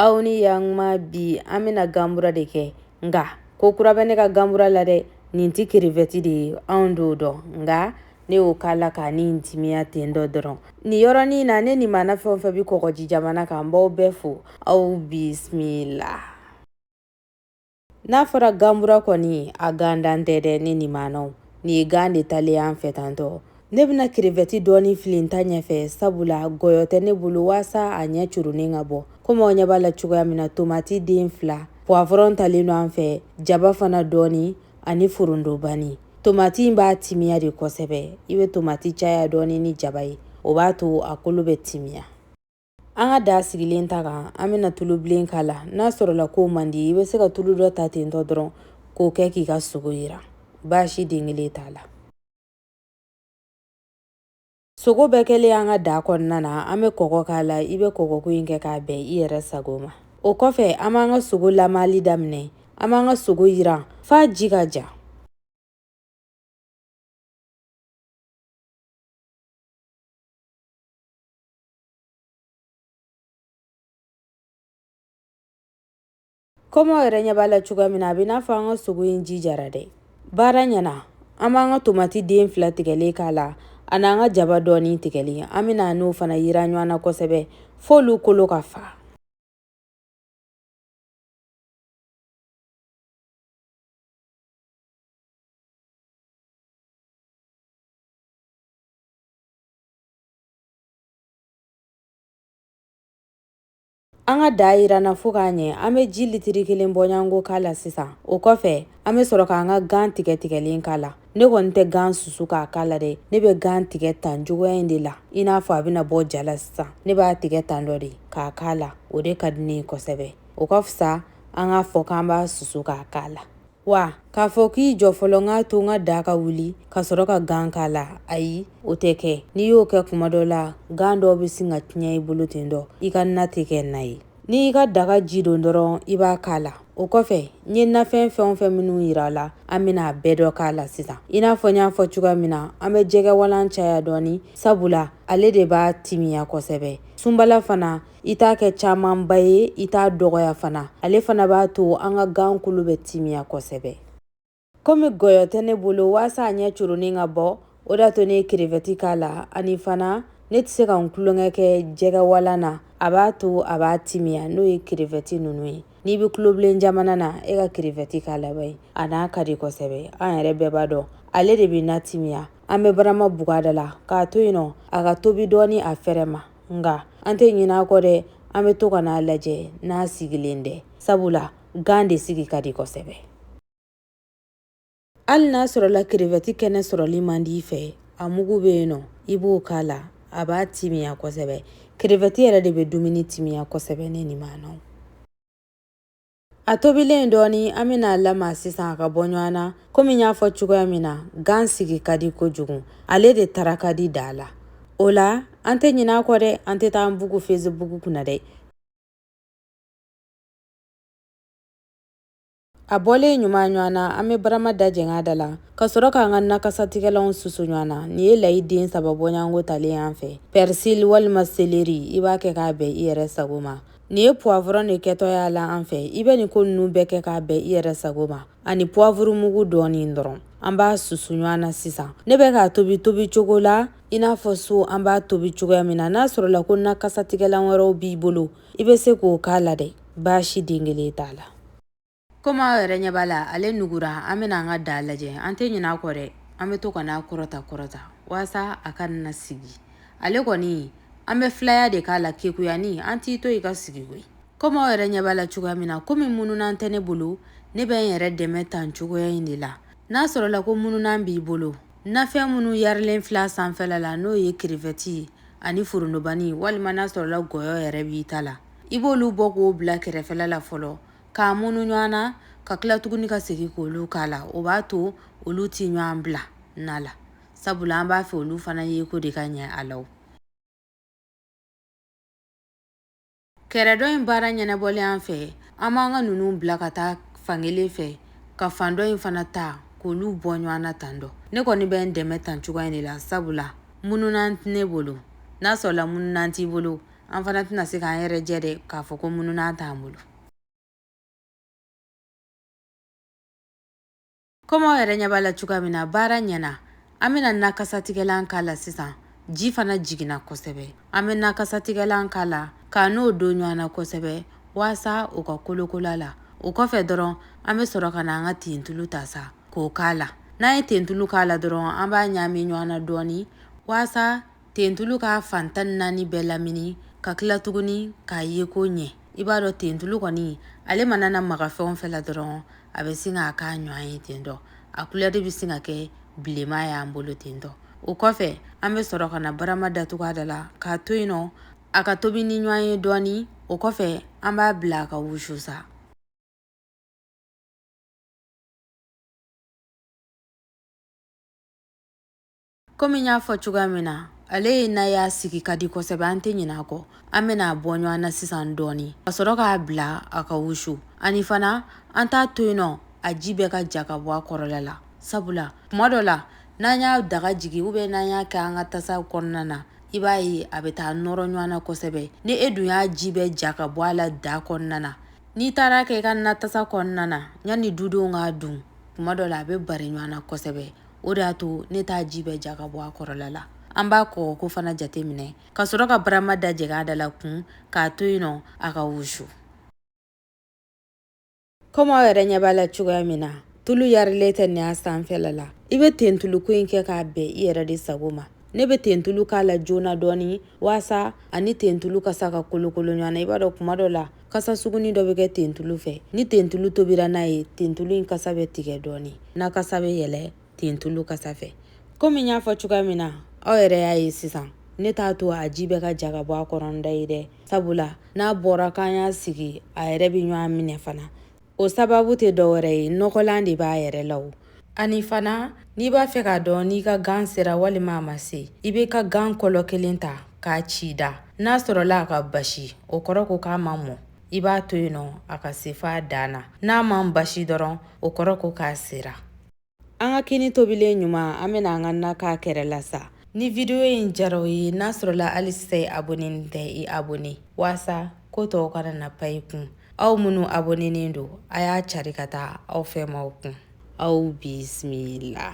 aw ni yankuma bi an bɛna ganbura de kɛ nka ko kura bɛ ne ka ganbura la dɛ nin tɛ kerevɛti de ye anw don dɔn nka ne y'o k'a la k'a ni timiya ten dɔ dɔrɔn nin yɔrɔnin na ne ni mana fɛn fɛn bɛ kɔgɔji jamana kan n b'aw bɛɛ fo aw bisimila n'a fɔra ganbura kɔni a gan dan tɛ dɛ ne ni manaw nin ye gan de talen an fɛ tantɔ ne bɛna kerefɛti dɔɔni fili n ta ɲɛfɛ sabula gɔyɔ tɛ ne bolo waasa a ɲɛ coronin ka bɔ komi aw ɲɛ b'a la cogoya min na tomati den fila puwafɔrɔn talen don an fɛ jaba fana dɔɔni ani forondobani tomati b'a timiya de kosɛbɛ i bɛ tomati caya dɔɔni ni jaba ye o b'a to a kolo bɛ timiya An ka da sigilen ta kan an bɛna tulubilen k'a la n'a sɔrɔla k'o man di i bɛ se ka tulu dɔ ta ten tɔ dɔrɔn k'o kɛ k'i ka sogo jiran baasi den kelen t'a la sogo bɛɛ kɛlen an ka da kɔnɔna na an bɛ kɔgɔ k'a la i bɛ kɔgɔko in kɛ k'a bɛn i yɛrɛ sago ma o kɔfɛ an b'an ka sogo lamali daminɛ an b'an ka sogo jiran f'a ji ka ja Kɔmi aw yɛrɛ ɲɛ b'a la cogoya min na a bɛ n'a fɔ an ka sogo in ji jara dɛ baara ɲɛna an b'an ka tomati den fila tigɛlen k'a la ani an ka jaba dɔɔni tigɛlen an bɛna n'o fana yiran ɲɔgɔn na kosɛbɛ f'olu kolo ka fa An ka da jiranna fo k'a ɲɛ an bɛ ji litiri kelen bɔɲɔgɔnko k'a la sisan o kɔfɛ an bɛ sɔrɔ k'an ka gan tigɛ tigɛlen k'a la ne kɔni tɛ gan susu k'a k'a la dɛ ne bɛ gan tigɛ tan cogoya in de la i n'a fɔ a bɛna bɔ ja la sisan ne b'a tigɛ tan dɔ de k'a k'a la o de ka di ne ye kosɛbɛ o ka fisa an k'a fɔ k'an b'a susu k'a k'a la wa k'a fɔ k'i jɔ fɔlɔ k'a to n ka da ka wuli ka sɔrɔ ka gan k'a la ayi o tɛ kɛ n'i y'o kɛ kuma dɔ la gan dɔw bɛ sin ka tiɲɛ i bolo ten dɔ i ka na tɛ kɛ na ye n'i ka daga ji don dɔrɔn i b'a k'a la o kɔfɛ n ye nafɛn fɛn o fɛn minnu yira la an bɛna a bɛɛ dɔ k'a la sisan i n'a fɔ n y'a fɔ cogoya min na an bɛ jɛgɛ walan caya dɔɔni sabula ale de b'a timiya kosɛbɛ sunbala fana i t'a kɛ camanba ye i t'a dɔgɔya fana ale fana b'a to an ka gan kolo bɛ timiya kosɛbɛ komi gɔyɔ tɛ ne bolo waasa a ɲɛ coronin ka bɔ o d'a to ne ye kerevɛti k'a la ani fana ne tɛ se ka n tulonkɛ kɛ jɛgɛwalan na a b'a to a b'a timiya n'o ye kerevɛti ninnu ye n'i bɛ tulobilen jamana na e ka kerevɛti k'a la bari a na ka di kosɛbɛ an yɛrɛ bɛɛ b'a dɔn ale de bɛ na timiya an bɛ barama bug'a da la k'a to yen nɔ a ka tobi dɔɔni a fɛrɛ ma nka an tɛ ɲin'a kɔ dɛ an bɛ to ka n'a lajɛ n'a sigilen dɛ sabula gan de sigi ka di kosɛbɛ hali n'a sɔrɔla kerevɛti kɛnɛ sɔrɔli man di i fɛ a mugu bɛ yen nɔ i b'o k'a la a b'a timiya kosɛbɛ kerevɛti yɛrɛ de bɛ dumuni timiya kosɛbɛ ne ni maanaw A tobilen dɔɔni an bɛn'a lamaga sisan a ka bɔ ɲɔgɔn na komi n y'a fɔ cogoya min na gan sigi ka di kojugu ale de tara ka di daa la o la an tɛ ɲin'a kɔ dɛ an tɛ taa an bugu fesibuku kunna dɛ a bɔlen ɲuman ɲɔgɔn na an bɛ barama da jɛng'a da la ka sɔrɔ k'an ka nakasatigɛlanw susu ɲɔgɔn na nin ye layi den saba bɔɲɔgɔnko talen y'an fɛ pɛrisili walima seleri i b'a kɛ k'a bɛn i yɛrɛ sago ma Nin ye puwavɔrɔn de kɛtɔ y'a la an fɛ i bɛ nin ko ninnu bɛɛ kɛ k'a bɛn i yɛrɛ sago ma ani puwavuru mugu dɔɔnin dɔrɔn an b'a susu ɲɔgɔn na sisan ne bɛ k'a tobi tobi cogo la i n'a fɔ so an b'a tobi cogoya min na n'a sɔrɔla ko nakasatigɛlan wɛrɛw b'i bolo i bɛ se k'o k'a la dɛ baasi den kelen t'a la Komi aw yɛrɛ ɲɛ b'a la ale nugura an bɛna an ka daa lajɛ an tɛ ɲinɛ a kɔ dɛ an bɛ to ka n'a kɔrɔta kɔrɔta walasa a kana sigi ale kɔni an bɛ filaya de k'a la kekuyani an t'i to i ka sigi koyi komi aw yɛrɛ ɲɛ b'a la cogoya min na komi mununan tɛ ne bolo ne bɛ n yɛrɛ dɛmɛ tan cogoya in de la n'a sɔrɔla ko mununan b'i bolo nafɛn minnu yarilen fil'a sanfɛla la n'o ye kerevɛti ani forontobani walima n'a sɔrɔla gɔyɔ yɛrɛ b'i ta la i b'olu bɔ k'o bila kɛrɛfɛla la fɔlɔ k'a munu ɲɔgɔn na ka tila tuguni ka segin k'olu k'a la o b'a to olu tɛ ɲɔgɔn bila na la sabula an b'a fɛ olu fana yeko de ka ɲɛ a la kɛrɛ dɔ in baara ɲɛnabɔlen an fɛ an b'an ka ninnu bila ka taa fan kelen fɛ ka fan dɔ in fana ta k'olu bɔ ɲɔgɔn na tan dɔ ne kɔni bɛ n dɛmɛ tan cogoya in de la sabula mununan tɛ ne bolo n'a sɔrɔla mununan t'i bolo an fana tɛna se k'an yɛrɛ jɛ dɛ k'a fɔ ko mununan t'an bolo komi aw yɛrɛ ɲɛ b'a la cogoya min na baara ɲɛna an bɛna nakasatigɛlan k'a la sisan ji fana jiginna kosɛbɛ an bɛ nakasatigɛlan k'a la ka n'o don ɲɔgɔn na kosɛbɛ waasa o ka kolokol'a la o kɔfɛ dɔrɔn an bɛ sɔrɔ ka na an ka tentulu ta sa k'o k'a la n'an ye tentulu k'a la dɔrɔn an b'a ɲaami ɲɔgɔn na dɔɔni waasa tentulu ka fan tan ni naani bɛɛ lamini ka tila tuguni k'a ye ko ɲɛ i b'a dɔn tentulu kɔni ale mana na maga fɛn o fɛn la dɔrɔn a bɛ sin k'a k'a ɲɔgɔn ye ten tɔ a kulɛri bɛ sin ka kɛ bilenma y'an bolo ten tɔ o kɔfɛ an bɛ sɔrɔ ka na barama datugu a da la k'a to yen nɔ a ka tobi ni ɲɔgɔn ye dɔɔnin o kɔfɛ an b'a bila a ka wusu sa komi n y'a fɔ cogoya min na ale ye n'a y'a sigi ka di kosɛbɛ an tɛ ɲinɛ a kɔ an bɛna a bɔ ɲɔgɔn na sisan dɔɔni ka sɔrɔ k'a bila a ka wusu ani fana an t'a to yen nɔ a ji bɛɛ ka ja ka bɔ a kɔrɔla la sabula kuma dɔ la n'an y'a daga jigi u bɛ n'an y'a kɛ an ka tasa kɔnɔna na i b'a ye a bɛ taa nɔrɔ ɲɔgɔn na kosɛbɛ ni e dun y'a ji bɛɛ ja ka bɔ a la da kɔnɔna na n'i taar'a kɛ i ka natasa kɔnɔna na yanni dudenw k'a dun kuma dɔ la a bɛ bari ɲɔgɔn na kosɛbɛ o de y'a to ne t'a ji bɛɛ ja ka bɔ a kɔrɔla la an b'a kɔgɔ ko fana jate minɛ ka sɔrɔ ka barama da jɛgɛ a da la kun k'a to yen nɔ a ka wusu komi aw yɛrɛ ɲɛ b'a la cogoya min na tulu yarilen tɛ nin a sanfɛla la i bɛ tentuluko in kɛ k'a bɛn i yɛrɛ de sago ma ne bɛ tentulu k'a la joona dɔɔni waasa a ni tentulu kasa ka kolokolo ɲɔgɔn na i b'a dɔn kuma dɔ la kasa suguni dɔ bɛ kɛ tentulu fɛ ni tentulu tobira n'a ye tentulu in kasa bɛ tigɛ dɔɔni na kasa bɛ yɛlɛ tentulu kasa fɛ komi n y'a fɔ cogoya min na aw yɛrɛ y'a ye sisan ne t'a to a ji bɛɛ ka ja ka bɔ a kɔrɔ n da ye dɛ sabula n'a bɔra k'an y'a sigi a yɛrɛ bɛ ɲɔgɔn minɛ fana o sababu tɛ dɔwɛrɛ ye nɔgɔlan de b'a yɛrɛ la o ani fana n'i b'a fɛ k'a dɔn n'i ka gan sera walima a ma se i b'i ka gan kɔlɔ kelen ta k'a ci da n'a sɔrɔla a ka basi o kɔrɔ ko k'a ma mɔ i b'a to yen nɔ a ka se f'a dan na n'a man basi dɔrɔn o kɔrɔ ko k'a sera an ka kini tobilen ɲuman an bɛna an ka na k'a kɛrɛ la sa ni vidiyo in diyar'aw ye n'a sɔrɔla hali sisan i abonenin tɛ i abone waasa ko tɔw kana na pan i kun aw minnu abonenen don a y'a cari ka taa aw fɛmaaw kun aw bisimila